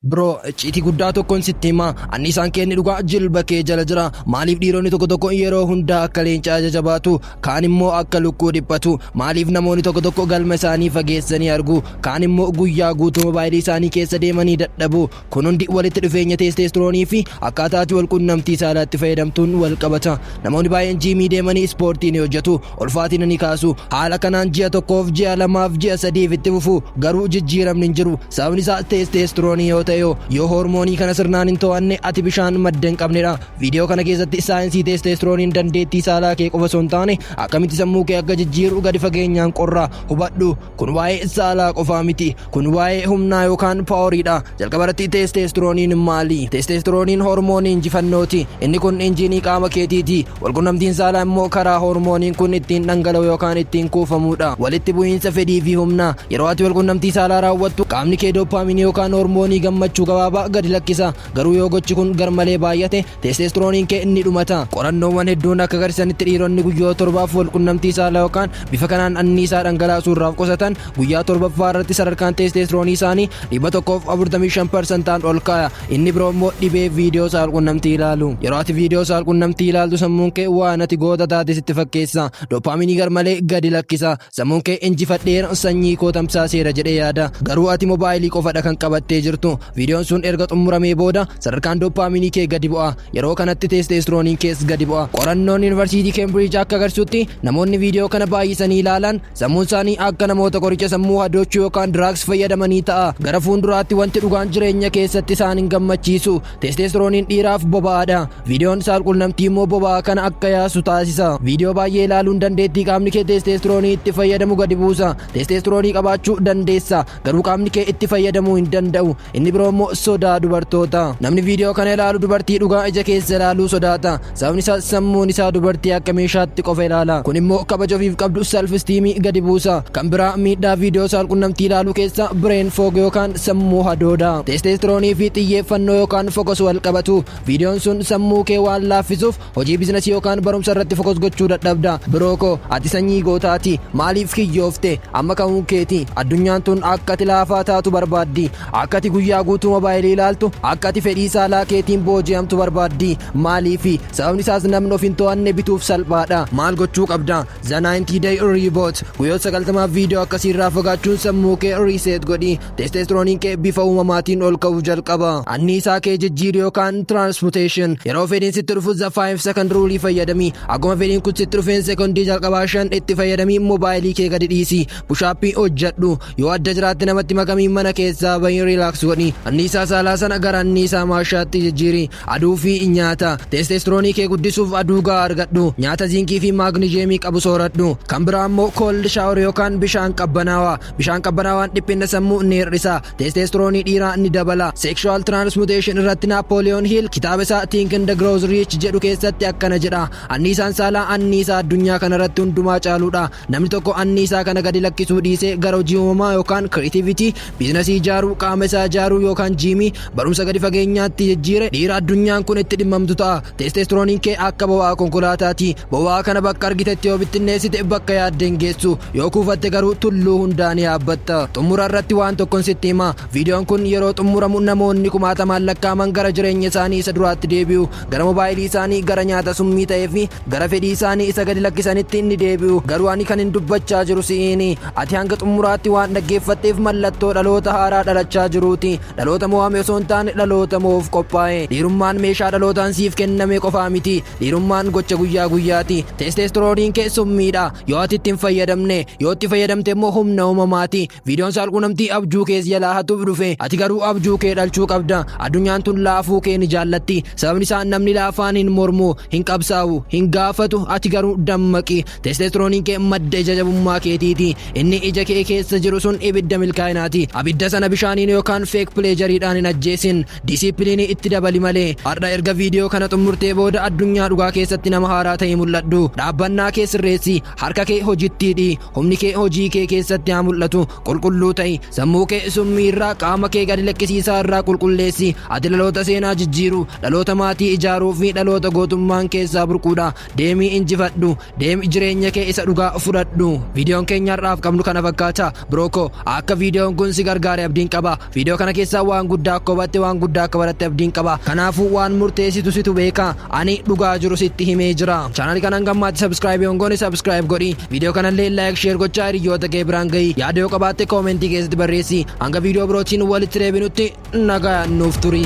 Bro, icciitii guddaa tokkon sitti hima. Anniisaan kee inni dhugaa jilba kee jala jira. Maaliif dhiironni tokko tokko yeroo hundaa akka leencaa jajabaatu, kaan immoo akka lukkuu dhiphatu? Maaliif namoonni tokko tokko galma isaanii fageessanii argu, kaan immoo guyyaa guutuu mobaayilii isaanii keessa deemanii dadhabu? Kun hundi walitti dhufeenya teesteestiroonii fi akkaataa ati walqunnamtii saalaatti fayyadamtuun wal qabata. Namoonni baay'een jiimii deemanii ispoortii ni hojjetu. Ulfaatina ni kaasu. Haala kanaan ji'a tokkoof, ji'a lamaaf, ji'a sadiif itti fufu. Garuu jijjiiramni hin jiru. Sababni isaa teesteestiroonii yoo ta'e hoo? Yoo hoormoonii kana sirnaan hin to'anne ati bishaan madda hin qabnedha. Viidiyoo kana keessatti saayinsii teesteestirooniin dandeettii saalaa kee qofa osoo hin taane akkamitti sammuu kee akka jijjiiru gadi fageenyaan qorra. Hubadhu! Kun waa'ee saalaa qofaa miti. Kun waa'ee humnaa yookaan paaworiidha. Jalqaba irratti teesteestirooniin maali? Teesteestirooniin hormoonii injifannooti. Inni kun injiinii qaama keetiiti. Walqunnamtiin saalaa immoo karaa hormooniin kun ittiin dhangala'u yookaan ittiin kuufamuudha. Walitti bu'iinsa fedhii fi humnaa. Yeroo ati walqunnamtii saalaa raawwattu qaamni kee dooppaaminii yookaan hormoonii gammachuu gabaabaa gadi lakkisa. Garuu yoo gochi kun garmalee baay'ate Teesteestirooniin kee ni dhumata. Qorannoowwan hedduun akka agarsiisanitti dhiironni guyyoota torbaaf walqunnamtii saalaa yookaan bifa kanaan anniisaa dhangalaasuu irraa of qusatan guyyaa torbaffaa irratti sadarkaan teesteestiroonii isaanii 145 parsantaan ol ka'a. Inni biroo immoo dhibee viidiyoo saalqunnamtii ilaalu. Yeroo ati viidiyoo saalqunnamtii ilaaltu sammuun kee waan ati goota taate sitti fakkeessa. Doopaaminii garmalee gadi lakkisa. Sammuun kee injifadheera sanyii koo tamsaaseera jedhee yaada. Garuu ati mobaayilii qofadha kan qabattee jirtu. Viidiyoon sun erga xumuramee booda sadarkaan dooppaaminii kee gadi bu'a. Yeroo kanatti teesteestirooniin kees gadi bu'a. Qorannoon Yunivarsiitii Keembiriij akka agarsiisutti namoonni viidiyoo kana baay'isanii ilaalan sammuun isaanii akka namoota qoricha sammuu hadoochu yookaan drugs fayyadamanii ta'a. Gara fuunduraatti wanti dhugaan jireenya keessatti isaan hin gammachiisu. Teesteestirooniin dhiiraaf boba'aadha. Viidiyoon saalqunnamtii immoo boba'aa kana akka yaasu taasisa. Viidiyoo baay'ee ilaaluun dandeettii qaamni kee teesteestiroonii itti fayyadamu gadi buusa. Teesteestiroonii qabaachuu dandeessa, garuu qaamni kee itti fayyadamuu hin danda'u. Inni biroo immoo sodaa dubartoota. Namni viidiyoo kana ilaalu dubartii dhugaa ija keessa ilaaluu sodaata. Sababni isaas sammuun isaa dubartii akka meeshaatti qofa ilaala. Kun immoo kabaja ofiif qabdu self esteem gadi buusa. Kan biraa miidhaa viidiyoo saalqunnamtii ilaaluu keessaa brain fog yookaan sammuu hadooda. Testosterone fi xiyyeeffannoo yookaan focus wal qabatu. Viidiyoon sun sammuu kee waan laaffisuuf hojii bizinasii yookaan barumsa irratti focus gochuu dadhabda. Biroo koo ati sanyii gootaati. Maaliif kiyyoofte? Amma ka'uun keeti. Addunyaan tun akka ati laafaa taatu barbaaddi. Akka ati guyyaa guutuu mobaayilii ilaaltu, akka ati fedhii saalaa keetiin booji'amtu barbaaddi. Maaliifi? Sababni isaas namni of hin to'anne bituuf salphaadha. Maal gochuu qabda? The 90 Day Reboot. Guyyoota 90f viidiyoo akkasii irraa fagaachuun sammuu kee reset godhi. Testosterooniin kee bifa uumamaatiin ol ka'uu jalqaba. Anniisaa kee jijjiiri yookaan transmutation. Yeroo fedhiin sitti dhufu the 5 second rule fayyadami. Akkuma fedhiin kun sitti dhufeen sekondii jalqabaa shan itti fayyadamii mobaayilii kee gadi dhiisi. Pushaappii hojjedhu. Yoo adda jiraatte namatti makamiin mana keessaa bahin riilaaks godhi. Anniisaa saalaa sana gara anniisaa maashaatti jijjiiri. Aduu fi nyaata. Teesteestiroonii kee guddisuuf aduu gahaa argadhu. Nyaata ziinkii fi maagnijeemii qabu sooradhu. Kan biraa immoo koold shaawar yookaan bishaan qabbanaawaa. Bishaan qabbanaawaan dhiphinna sammuu ni hir'isa. Teesteestiroonii dhiiraa ni dabala. Sekshuwaal tiraansmuteeshin irratti Naappooliyoon Hiil kitaaba isaa Think and Grow Rich jedhu keessatti akkana jedha. Anniisaan saalaa anniisaa addunyaa kanarratti hundumaa caaluudha. Namni tokko anniisaa kana gadi lakkisuu dhiisee gara hojii uumamaa yookaan creativity, biizinasii ijaaruu, qaama isaa ijaaruu yookaan jiimii, barumsa gadi fageenyaatti jijjiire dhiira addunyaan kun itti dhimmamtu ta'a. Teesteestirooniin kee akka boba'aa konkolaataati. Boba'aa kana bakka argitetti yoo bittinneessite bakka yaadde hin geessu. Yoo kuufatte garuu tulluu hundaa ni yaabbatta. Xummura irratti waan tokkon sitti hima. Viidiyoon kun yeroo xummuramu namoonni kumaatamaan lakkaa'aman gara jireenya isaanii isa duraatti deebi'u. Gara mobaayilii isaanii, gara nyaata summii ta'ee fi Gara fedhii isaanii isa gadi lakkisanitti ni deebi'u. Garuu ani kanin dubbachaa jiru si'iini. Ati hanga xumuraatti waan dhaggeeffatteef mallattoo dhaloota haaraa dhalachaa jiruuti. Dhaloota mo'ame osoo hin taane dhaloota mo'uuf qophaa'e. Dhiirummaan meeshaa dhalootaan siif kenname qofaa miti. Dhiirummaan gocha guyyaa guyyaati. Teesteestirooniin kee summiidha. Yoo ati itti hin fayyadamne, yoo itti fayyadamte immoo humna uumamaati. Viidiyoon saalquunamtii abjuu kees jalaa hatuuf dhufe. Ati garuu abjuu kee dhalchuu qabda. Addunyaan tun laafuu kee ni jaallatti. Sababni isaa namni laafaan hin mormu, hin qabsaa'u, hin gaafatu. Ati garuu dammaqi. Teesteestirooniin kee madda ija jabummaa keetiiti. Inni ija kee keessa jiru sun ibidda milkaa'inaati. Abidda sana bishaaniin yookaan feek pileejariidhaan hin ajjeesin. Disiipiliinii itti dabali malee. Har'a erga viidiyoo kana xumurtee booda addunyaa dhugaa keessatti nama haaraa ta'ii mul'adhu. Dhaabbannaa kee sirreessi. Harka kee hojitti hidhi. Humni kee hojii kee keessatti haa mul'atu. Qulqulluu ta'i. Sammuu kee summii irraa qaama kee gadi lakkisiisaa irraa qulqulleessi. Ati dhaloota seenaa jijjiiru, dhaloota maatii ijaaruu fi dhaloota gootummaan keessaa burquudha. Deemii injifadhu. Deemi jireenya kee isa dhugaa fudhadhu. Viidiyoon keenya har'aaf qabnu kana fakkaata. Biroo koo akka viidiyoon kun si gargaare abdiin qaba. Viidiyoo kana keessaa waan guddaa akka hubatte waan guddaa akka baratte abdiin qaba. Kanaafuu waan murteessitu situ beeka. Ani dhugaa jiru sitti himee jira. Chaanali kana hanga ammaatti subscribe hin goone subscribe godhi. Viidiyoo kanallee like share gochaa hiriyyoota kee biraan gahi. Yaada yoo qabaatte koomentii keessatti barreessi. Hanga viidiyoo birootiin walitti deebinutti nagaan nuuf turi.